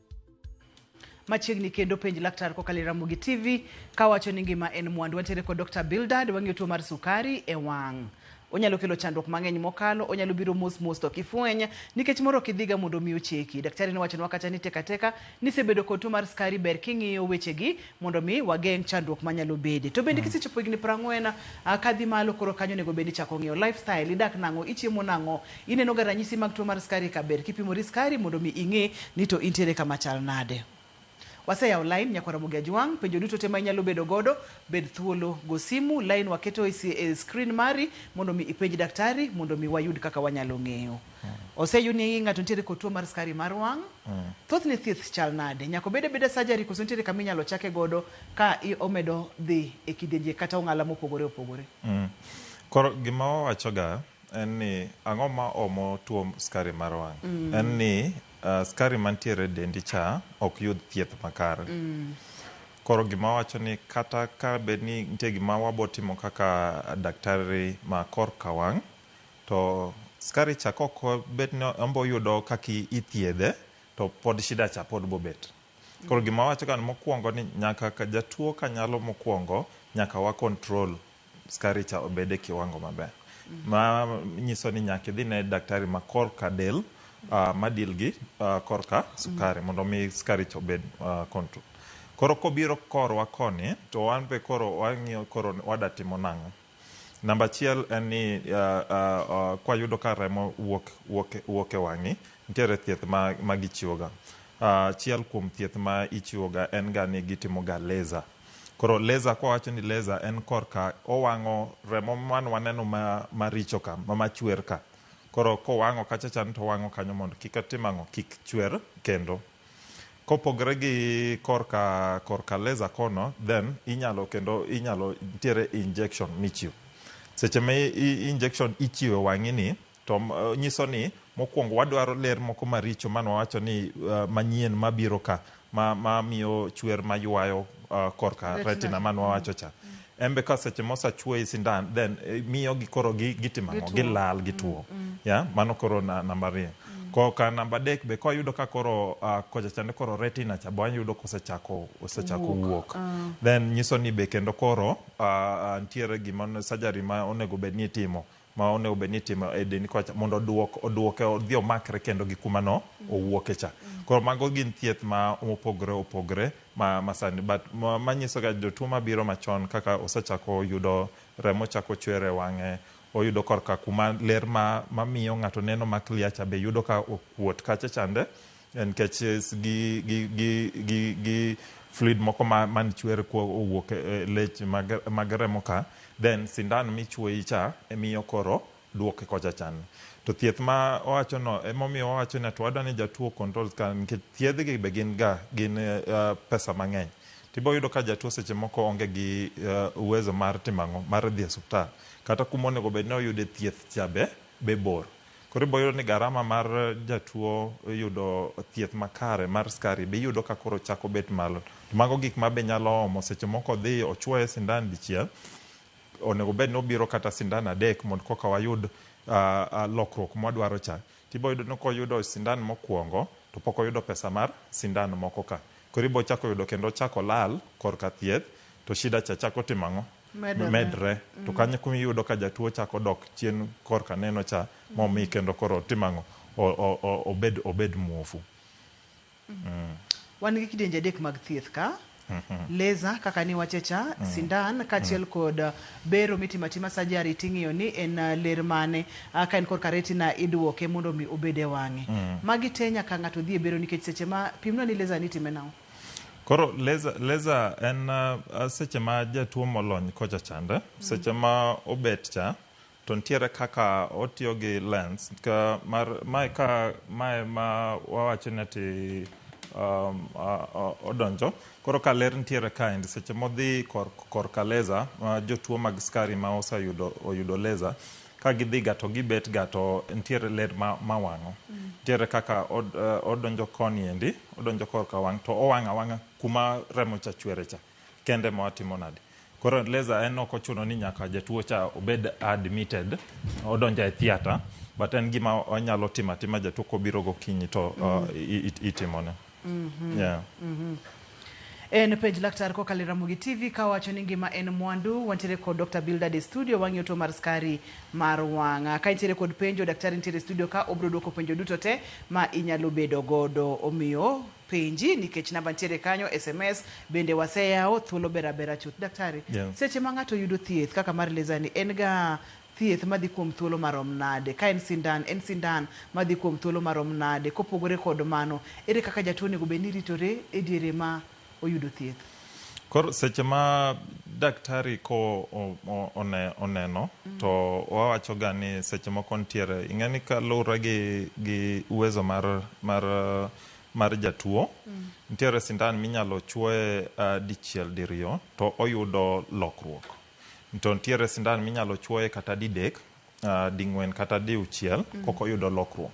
machiegni kendo penj laktar kokalo e Ramogi TV kawacho ni ngima en mwandu. Wantiere kod Dr. Bildad wang'iyo tuo mar sukari e wang'. Onyalo kelo chandruok mang'eny mokalo, onyalo biro mos mos to kifweny nikech moro ok idhiga mondo mi ocheki. Daktari nowachonwa kata ni teka teka nisebedo kod tuo mar sukari ber king'iyo wechegi mondo mi wageng' chandruok manyalo bede. To bende kisechopo higni 40 ah, kadhi malo koro kanyo onego bed ni ichako ng'iyo lifestyle, idak nang'o, ichiemo nang'o, Ineno ga ranyisi mag tuo mar skari ka ber kipimori skari mondo mi ing'e ni to intiere kama chal nade. Waseyawo line nyakwa Ramogi Ajwang', penjo duto te ma inyalo bedo godo, bed thuolo go simu, line waketo e si e screen mari mondo mi ipenj daktari mondo mi wayud kaka wanyalo ng'eyo. Oseyud ni ng'ato nitiere kod tuo mar skari mar wang', thothne thieth chal nade? Nyako bed abeda surgery koso nitiere kama inyalo chake godo ka i omedo dhi e kidienje kata ong'ala mopogore opogore? Koro gima wawachoga. en ni ang'o ma omo tuo skari mar wang'? En ni uh, skari mantiere e dendi cha ok yud thieth makare. Koro gima wacho ni kata ka bed ni nitie gima wabotimo kaka daktari ma korka wang', to skari cha kok bed ni ombo yudo kaka i- ithiedhe, to pod shida cha pod bobet. Koro gima wacho ka ni mokwongo ni nyaka ka jatuo ka nyalo mokwongo, nyaka wa control skari cha obed e kiwango maber. Ma nyiso ni nyaka idhi ne daktari ma korka del uh, ma deal gi uh, korka sukari mondo mi skari cha obed uh, control. Koro kobiro korwa koni to wan be koro wang'iyo koro wada timo nang'o. Namba achiel en ni uh, uh, uh, kwayudo ka remo wuok, wuok, wuok e wang'i, nitiere thieth ma, ma gichiwoga. Uh, achiel kuom thieth ma ichiwoga en ga ni gitimoga laser Koro laser kwa wacho ni laser en korka owang'o remo man waneno ma maricho ka ma machwer ka. Koro kowang'o kacha chan to owang'o kanyo mondo kik otim ang'o kik chwer kendo. Kopogre gi korka korka laser kono then inyalo kendo inyalo nitiere injection michiwo. Seche ma injection ichiwe wang'i ni To nyiso ni mokwongo wadwaro ler moko maricho mane wawacho ni uh, manyien mabiro ka ma, ma miyo chwer maywayo uh, korka retina, retina mane wawacho cha mm. embe ka seche mosachuoyi sindan then eh, miyo gi koro gitimo ang'o gilal gituo mm, mm. ya yeah? mano koro na, namba ariyo mm. koka namba adek be ka yudo ka koro uh, kocha chande koro retina cha bwa yudo kosechako osechako wuok uh. then nyiso ni be kendo koro uh, nitiere gima surgery ma onego bed ni itimo ma onego bed ni itimo e dendi kocha mondo oduok oduoke odhi omakre kendo gi kuma no owuoke cha. Koro mago gin thieth ma opogore opogore ma ma sani but ma manyiso ga jotuo mabiro machon kaka osechako yudo remo chako chwer e wang'e, oyudo korka kuma ler ma mamiyo ng'ato neno ma clear cha be yudo ka okuot kacha chande. Nikech gi, gi, gi, gi, gi fluid moko ma, man chwer kuo owuok e e lech mag, mag remo ka, then sindan michuoyi cha emiyo koro duoke kocha chan. To thieth ma owacho no, emomiyo wawacho ni to wadwa ni jatuo controls ka nikech thiedh gi be gin ga, gin uh, pesa mang'eny. Tibo yudo ka jatuo seche moko onge gi uh, uwezo mar timo ang'o? Mar dhi e suptal. Kata kuma onego bed ni oyude thieth cha be, be bor. Koro ibo yudo ni garama mar jatuo yudo thieth makare mar skari be iyudo ka koro chako bet malo. To mago gik ma be nyalo omo seche moko odhi ochuoye sindan dichiel, onego bed ni obiro kata sindan adek mondo koka wayud lokruok ma wadwaro cha. To ibo yudo ni koyudo sindan mokuongo to pok oyudo pesa mar sindan moko ka. Koro ibo chako yudo kendo ochako olal korka thieth to shida cha chako timo ang'o? Medore. medre to kanyo kuma iyudo ka jatuo chako dok chien korka neno cha momi kendo koro timo ang'o O- o- o- obed obed muofu Wan gi kidienje adek mag thieth ka. Laser kaka ni wachecha, sindan kaachiel kod uh, bero mitimo atima surgery ting'iyo ni en uh, ler mane uh, ka en korka retina iduoke mondo mi obed e wang'e. Magi te nyaka ng'ato dhi e bero nikech seche ma pimno ni laser ni time nang'o? Koro laser, laser en uh, seche ma jatuo molony kocha chande, seche ma obet cha to nitiere kaka otiyo gi lens ka mar mae ka mae ma wawacho ni ati um, a- a- odonjo koro ka ler nitiere kind seche modhi kor, korka laser uh, jotuo mag skari ma oseyudo oyudo laser Ka gidhiga to gibetga to nitiere ler ma mawang'o. Nitiere kaka od odonjo koni endi, odonjo korka wang' to owang'o awang'a kuma remo cha chwere cha kende ema watimo nade. Koro laser en ok ochuno ni nyaka jatuo cha obed admitted, odonjo e theater but en gima wanyalo timo atima jatuo kobiro gokinyi to itimone. Mm -hmm. Yeah. Mm -hmm. En penj laktar kokalo e Ramogi TV ka wacho ni ngima en mwandu. Wantiere kod Dr. Bildad e studio wang'iyo tuo mar skari mar wang'a. Ka intiere kod penjo, daktari nitiere e studio ka obro dwoko penjo duto te ma inyalo bedo godo. Omiyo penji nikech namba nitiere kanyo, SMS bende waseyawo, thuolo bera bera chuth. Daktari, yes. seche ma ng'ato yudo thieth kaka mar laser ni en ga thieth madhi kuom thuolo marom nade? Ka en sindan, en sindan madhi kuom thuolo marom nade? Kopogore kod mano, ere kaka jatuo onego bed ni ritore e diere ma oyudo thieth? Koro seche ma daktari ko oneno to wawachoga ni seche moko nitiere, ing'e ni kalure gi gi uwezo mar mar mar jatuo, nitiere sindan minyalo chuoye dichiel diriyo to oyudo lokruok. To nitiere sindan minyalo chuoye kata didek, uh, ding'wen kata diuchiel mm. Mm-hmm. koko yudo lokruok.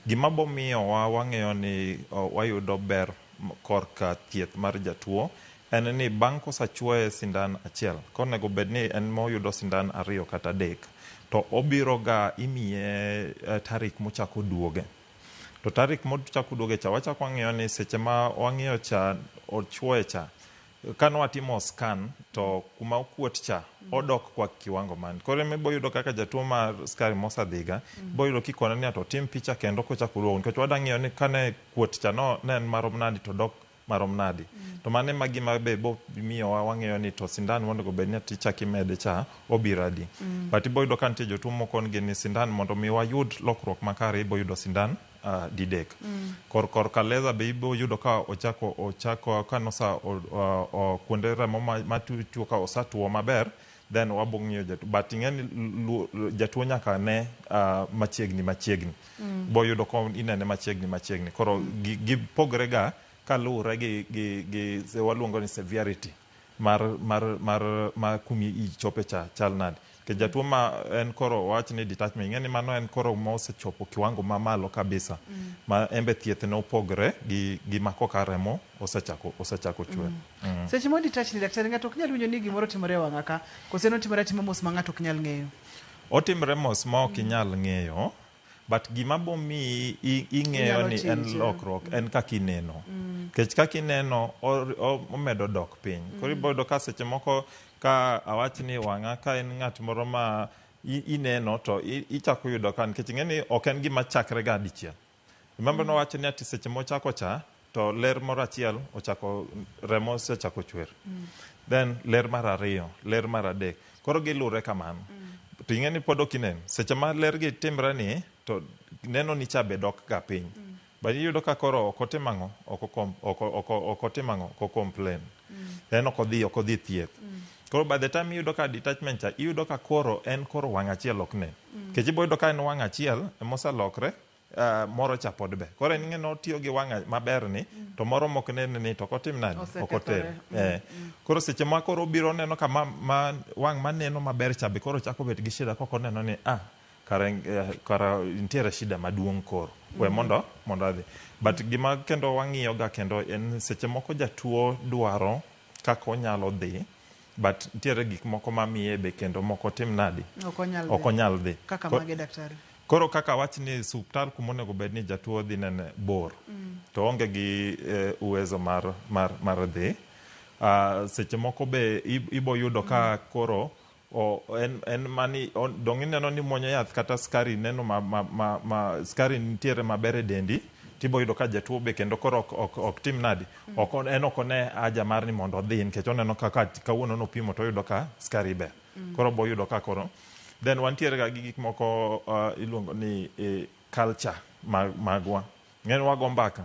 Gima bo miyowa wang'eyo ni uh, wayudo ber korka thieth mar jatuo en ni bang' kosachuoye sindan achiel konego bed ni en moyudo sindan ariyo kata adek to obiro ga imiye uh, tarik mochako duoge to tarik mochako duoge cha wachako wang'eyo ni seche ma wang'eyo cha ochuoye cha Kane watimo scan to kuma okuot cha odok kwa kiwango man. Koro ema ibo yudo kaka jatuo mar skari mosadhiga ibo yudo kikone ni ato otim picha kendo kochako oduogo nikech wadwa ng'iyo ni kane kuot cha no ne en marom nadi to dok marom nadi. To mano ema gima be bo miyowa wang'eyo ni to sindan mondo obed ni ati ichak imede cha obiro adi. But ibo yudo ka nitie jotuo mokon gi ni sindan mondo mi wayud lokruok makare ibo yudo sindan uh, didek mm. kor kor kaleza be ibo yudo ka ochako ochako ka nosa o, o, o, kuonde remo matuo ka osatuo maber then wabo ng'iyo jatuo but ing'eni lu- lu- jatuo nyaka ne uh, machiegni machiegni mm. bo yudo ka inene machiegni machiegni koro mm. gipogre ga kaluwore gi, gi, gi se- waluongo ni severity mar mar mar ma kumi ichope cha chal nade ke jatuo ma en koro wach ni detachment ing'e ni mano en koro ma osechopo kiwango ma malo kabisa mm. ma embe thieth ne opogre gi gi ma koka remo osechako osechako chwer mm. mm. seche mo detach ni daktari ng'ato ok nyal winjo ni gimoro timore e wang'a ka kose no timore atima mos ma ng'ato ok nyal ng'eyo otimre mos ma ok inyal ng'eyo but gima bomiyi i- ing'eyo Inyalo ni en change, yeah. lokruok en kaka ineno nikech kaka ineno or- o- omedo dok piny koro iboyudo ka seche moko ka awach ni wang'a ka en ng'at moro ma i- ineno to i- ichako yudo ka nikech ing'e ni ok en gima chakre ga dichiel remember nowacho ni ati seche mochako cha to ler moro achiel ochako remo osechako chwer then ler mar ariyo ler mar adek koro gilure kamano to ing'e ni pod ok inen seche ma ler gi timre ni to neno ni cha be dok ga piny but iyudo ka koro ok otim ang'o ok okom- ok o- ok o- ok otim ang'o ok ocomplain then ok odhi ok odhi thieth koro by the time iyudo ka detachment cha iyudo ka koro en koro wang' achiel ok nen kech iboyudo ka en wang' achiel emoselokre Uh, moro cha pod be koro en ng'eno tiyo gi wang'a maber ni mm. to moro mok nene ni to kotim nadi ok oter mm. eh. mm. koro seche ma koro obiro neno ka ma, ma wang' maneno maber cha be koro chako bet gi shida koko neno ni ah kara, eh, kara nitiere shida maduong' koro mm. we mondo mondo adhi but mm. gima kendo wang'iyoga kendo en seche moko jatuo dwaro kaka onyalo dhi but nitiere gik moko mamiye be kendo moko otim nadi Ok onyal dhi. ok onyal dhi Kaka Ko- mage daktari. koro kaka wach ni suptal kuma onego bed ni jatuo dhi nene bor to onge gi eh, uwezo mar, mar, mar dhi uh, seche moko be ib- ibo yudo ka koro o, en, en mani o- dong ineno ni muonyo yath kata skari neno ma, ma, ma, ma skari nitiere maber e dendi tibo yudo ka jatuo be kendo koro ok, ok, ok tim nadi Ok on- en ok one haja mar ni mondo odhi nikech oneno ka ka- kawuono nopimo to oyudo ka skari ber. Koro bo yudo ka koro. Then wantiere ga gi gik moko uh, iluongo ni eh, culture mag, magwa. Ng'en wago mbaka.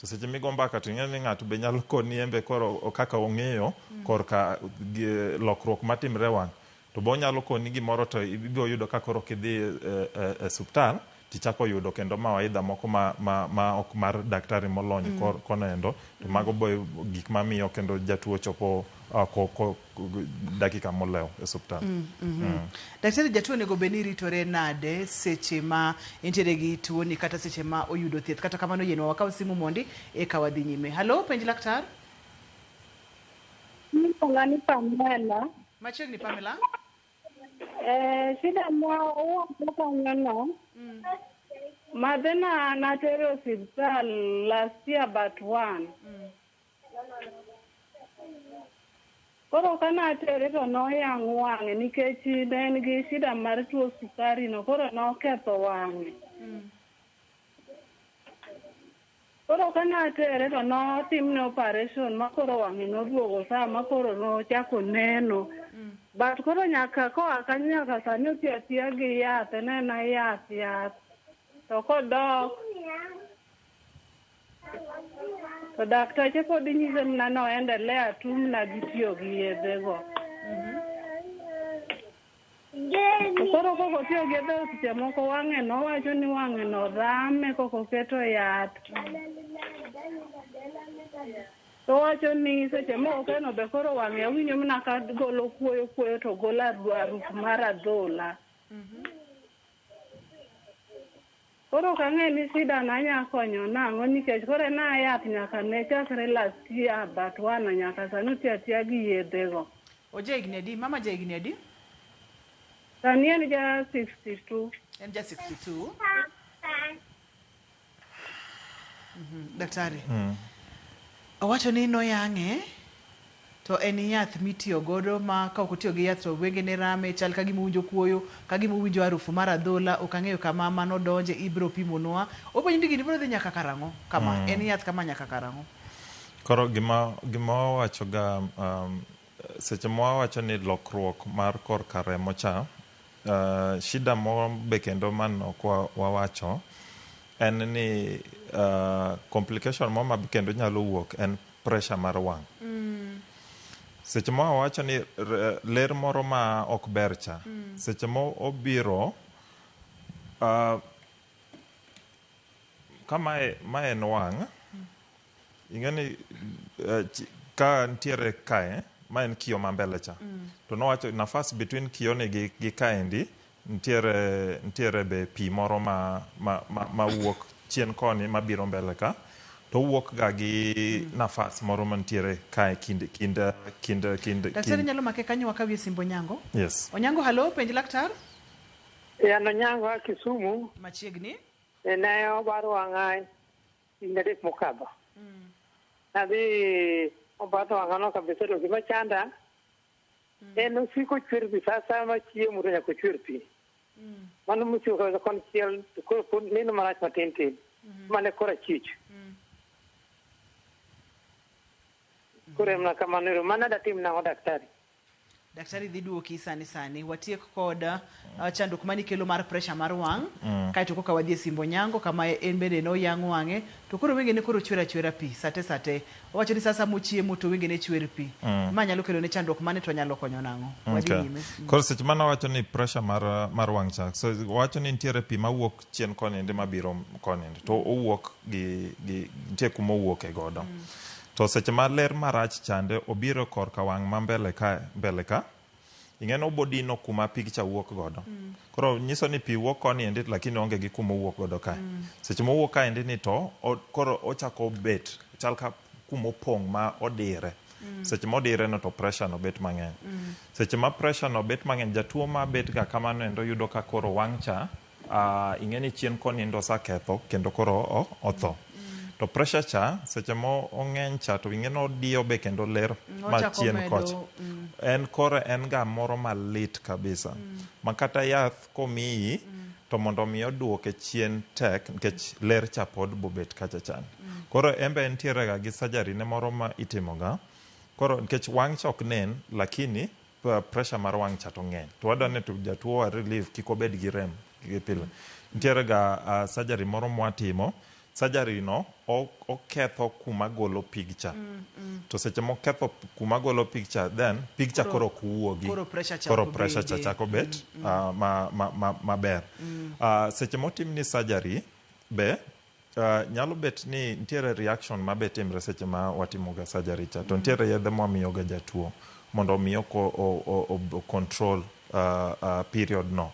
To seche migo mbaka to ing'eyo ni ng'ato be nyalo koni embe koro kaka ong'eyo korka gi- lokruok matimre wang'. To be onyalo koni gimoro to ibiro yudo ka koro kidhi e, e, e suptal tichako yudo kendo mawaidha moko ma, ma, ma ok mar daktari molony mm. kor, kono endo to mm. mago bo gik mamiyo kendo jatuo chopo uh, ko, ko, dakika molewo e suptal mm, mm -hmm. mm. daktari jatuo onego bed ni ritore nade seche ma entiere gi tuoni kata seche ma oyudo thieth kata kamano yienwa wakaw simu mondi eka wadhi nyime halo penj laktar Iluonga ni Pamela. Machiegni Pamela. Eh, shida ma owuok kanyono. Mm. Madhe na natere osiptal last year but one. Mm. Koro ka natere to noyang' wang'e nikech ne en gi shida mar tuo sukari no koro noketho wang'e. Mm. Koro kane atere to notimne operation ma koro wang'e noduogo saa ma koro nochako neno. But koro nyaka koa kanyo nyaka sani otiyo atiya gi yath, en aena yath yath. To kodok to dakteche pod nyise mana ni o endelea tu mana gi tiyo gi yedhego. To koro koko tiyo gi dhok seche moko wang'e no wacho ni wang'e no rame koko keto yath. To wacho ni seche moko keno be koro wang'e awinjo mana ka golo kuoyo kuoyo to golo aruf mar adhola. Koro ok ang'e ni shida na nya konyo nang'o nikech koro en a yath nyaka ne chakre last year but one nyaka sani otiyo atiya gi yedhe go. Oja higni adi? Mama ja higni adi? Sani en ja 62. En ja 62. Mhm, Daktari. Owacho ni noyang'e. To en yath mitiyo godo ma ka ok otiyo gi yath to wengene rame, chal ka gima owinjo kuoyo, ka gima owinjo arufu mar adhola, ok ang'eyo kama ma nodonje, ibiro pimonwa. Openji ni gini biro dhi nyaka karang'o kama, en yath kama nyaka karang'o. Koro gima gima wawachoga seche ma wawacho ni lokruok mar korka remo cha, shida moro be kendo ma ne ok wawacho en ni complication moro ma be kendo nyalo wuok en pressure mar wang'. Seche ma wawacho ni r- ler moro ma ok ber cha, seche ma obiro ah, ka mae ma en wang', ing'e ni eh, chi- ka nitiere kae ma en kiyo ma mbele cha to nowacho nafas between kiyoni gi, gi kaendi Ntiere, ntiere be pi moro ma, ma, ma, ma wuok chien koni ma biro mbele ka, to owuok ga gi nafas moro mantiere kae kind, kind, kind, kind, Daktari kind. nyalo make kanyo wakawie simb Onyango. Yes. Onyango halo, penj laktar. E an Onyango a Kisumu. Machiegni. E ne obaro wang'a higni adek mokadho. Nadhi obaro wang'ano kabisa to gima chanda Mm. En osiko chwer pi sa asaya ma chiemo to nyaka ochwer pi. Mm. Mano mosiko kaweza kon chiel to koro pod neno marach matin tin. Mm-hmm. Mane kora chich. Mm. Koro emna kamano ero. Mana datim nang'o daktari? Daktari dhi duoki sani sani. Watiek kod uh, chandruok mani kelo mar pressure mar wang' mm. kaeto koka wadhi e simbo nyango kama en bende ne oyang' wang'e to koro wenge ne koro chwer achwera pi sate sate owacho ni sasa mochiemo to wenge ne chwer pi mm. ma nyalo kelo ne chandruok mane to nyalo konyo nang'o wadhi okay. nyime mm. koro seche mane wacho ni pressure mar, mar wang' cha so wacho ni nitiere pi mawuok chien koninde mabiro koninde to owuok gi, gi nitie kuma owuok e godo mm. to seche ma ler marach chande obiro korka wang' ma mbele ka mbele ka Ing'e ni obodino kuma pig cha wuok godo. Koro nyiso ni pi wuok koni endi lakini oonge gi kuma owuok godo kae. Seche mowuok kae endi ni to o- koro ochako bet chal ka kuma opong' ma odire. Seche modire no to pressure no bet mang'eny. Seche ma pressure no bet mang'eny jatuo ma bet ga kamano endo yudo ka koro wang' cha Ah, ing'e ni chien konindo oseketho kendo koro o- otho to pressure cha seche ma ong'eny cha to ing'e ni odiyo be kendo ler Mm, ma ochako chien medo, kocha mm. en koro en ga moro malit kabisa ma kata yath komiyi to mondo mi oduoke chien tek nikech ler cha pod bobet kacha chan koro en be entiere ga gi surgery ne moro ma itimoga koro nikech wang' cha ok nen lakini pressure mar wang' cha to ng'eny to wadwa ni to jatuo wa relief kik obed gi rem gi pile. Nitiere ga uh, surgery moro mwatimo surgery no o- oketho kuma golo pig cha to seche moketho p- kuma golo pig cha then pig cha koro ok wuogi koro pressure cha koro ok pressure cha bede. chako bet ah, ma- ma- ma- maber Ah, seche motimni surgery be Uh, nyalo bet ni nitiere reaction ma be timre seche ma watimoga surgery cha to nitiere yedhe mwamiyoga jatuo mondo omi ocontrol uh, uh, period no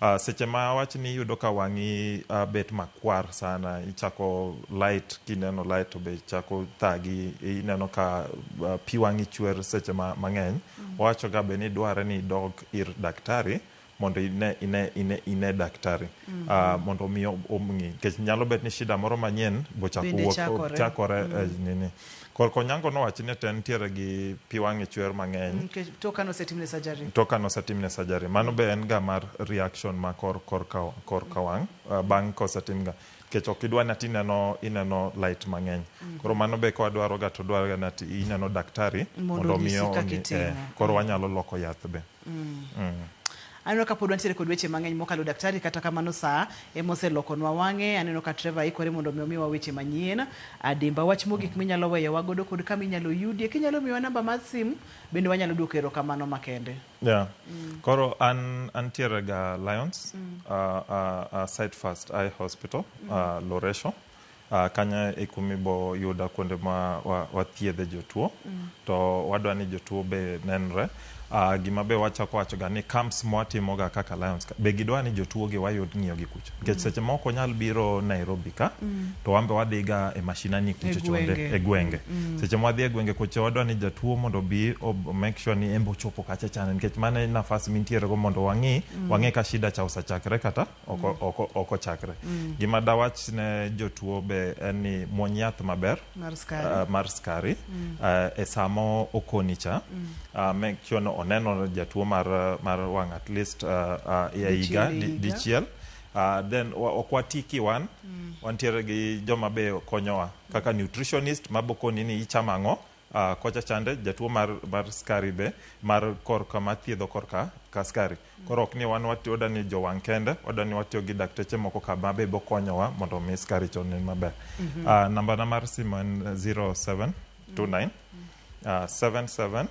uh, seche ma wach ni iyudo ka wang'i uh, bet makwar sana ichako light kineno light to be chako thagi ineno ka uh, pi wang'i chwer seche ma, mang'eny mm. wawachoga be ni dwarre ni idog ir daktari mondo ine, ine, ine, ine daktari mm -hmm. uh, mondo omi omng'i nikech nyalo bet ni shida moro manyien bochako wuok chakore, chakore mm. uh, nini korko nyango nowachi ni ten tiere gi pi wang'e chwer mang'eny mm, okay. to kano setimne surgery to kano setimne surgery mano be en ga mar reaction ma kor kor ka kor ka wang' uh, bang' kosetimga nikech ok idwa ni ati ineno ineno light mang'eny mm -hmm. koro mano be ka wadwaroga to dwaroga ni ati ineno daktari mondo omi eh, koro wanyalo loko yath be Mm. Mm. Aneno ka pod wantiere kod weche mang'eny mokalo daktari, kata kamano saa ema oselokonwa wang'e. Aneno ka Trevor ikore mondo mi omiwa weche manyien. Adimba wach mogik minyalo weyowa godo kod kama inyalo yudie. Kinyalo miwa namba mar sim bende wanyalo duoko erokamano makende. Yeah. Mm. Koro an antiere ga Lions mm. uh, uh, uh, Site First Eye Hospital mm. uh, Loresho. Kanyo e kuma ibo yuda kuonde ma wathiedhe jotuo to wadwa ni jotuo be nenre. Gima be wachako wachoga ni camps ma watimoga kaka Lions ka be gidwa ni jotuo gi wayud ng'iyo gi kucha nikech seche moko ok wanyal biro Nairobi ka to wan be wadhi ga e mashinani kucho chonde e gwenge. Seche ma wadhi e gwenge kucho chonde wadwa ni jatuo mondo obi o make sure ni en be ochopo kacha chande nikech mano e nafas mintiere go mondo wang'i wang'e ka shida cha osechakre kata. oko, mm. oko, oko chakre mm. gima dawach ne jotuo be en ni muony yath maber mar skari, uh, mar skari. Mm. Uh, e samo okoni cha mm. uh, make sure no oneno jatuo mar, mar wang at least uh, uh, ya higa dichiel di uh, then ok wati kiwan mm. wantiere gi joma be konyowa kaka nutritionist mabokoni ni ichamo ang'o Uh, kocha chande jatuo mar, mar skari be mar korka mathiedho korka ka skari koro ok ni wan watiyo oda ni jowang' kende oda ni watiyo gi dakteche moko ka ma be bokonyowa mondo mi skari to onen maber mm -hmm. uh, nambana mar simo en 0729 uh, 77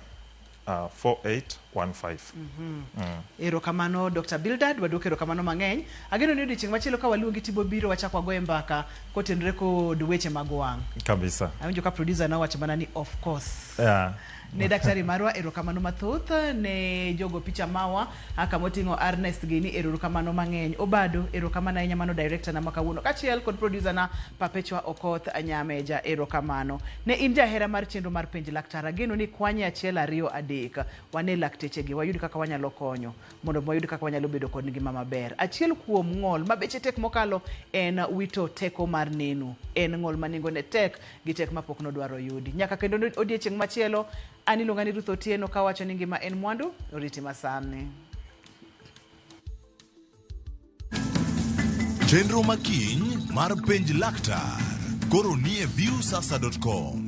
uh, 4815. Mm -hmm. mm. Erokamano Dr. Bildad, waduok erokamano mang'eny. Ageno ni odiochieng' machielo ka waluongi tibo biro wachak wagoye mbaka kotenre kod weche mag wang'. Kabisa. Awinjo ka producer na wacho mana ni of course. Yeah. ne daktari marwa erokamano mathoth ne jogo picha mawa A kama oting'o Arnest gi ni erourukamano mang'eny. Obado, erokamano ahinya mano director na ma kawuono kachiel kod producer na Perpetua Okoth Anyameja. Erokamano. Ne in jahera mar chenro mar penj laktar, ageno ni ikwanye achiel ariyo adek. Wane lakteche gi wayud kaka wanyalo konyo mondo wayud kaka wanyalo bedo kod ngima maber. Achiel kuom ng'ol ma beche tek mokalo en wito teko mar neno. En ng'ol ma nengone tek gi tek ma pok nodwar oyudi. Nyaka kendo ne odiechieng' machielo. An iluonga ni Ruth Otieno ka wacho ni ngima en mwandu, oriti masani. Chenro ma kiny mar penj laktar koro nie viewsasa.com.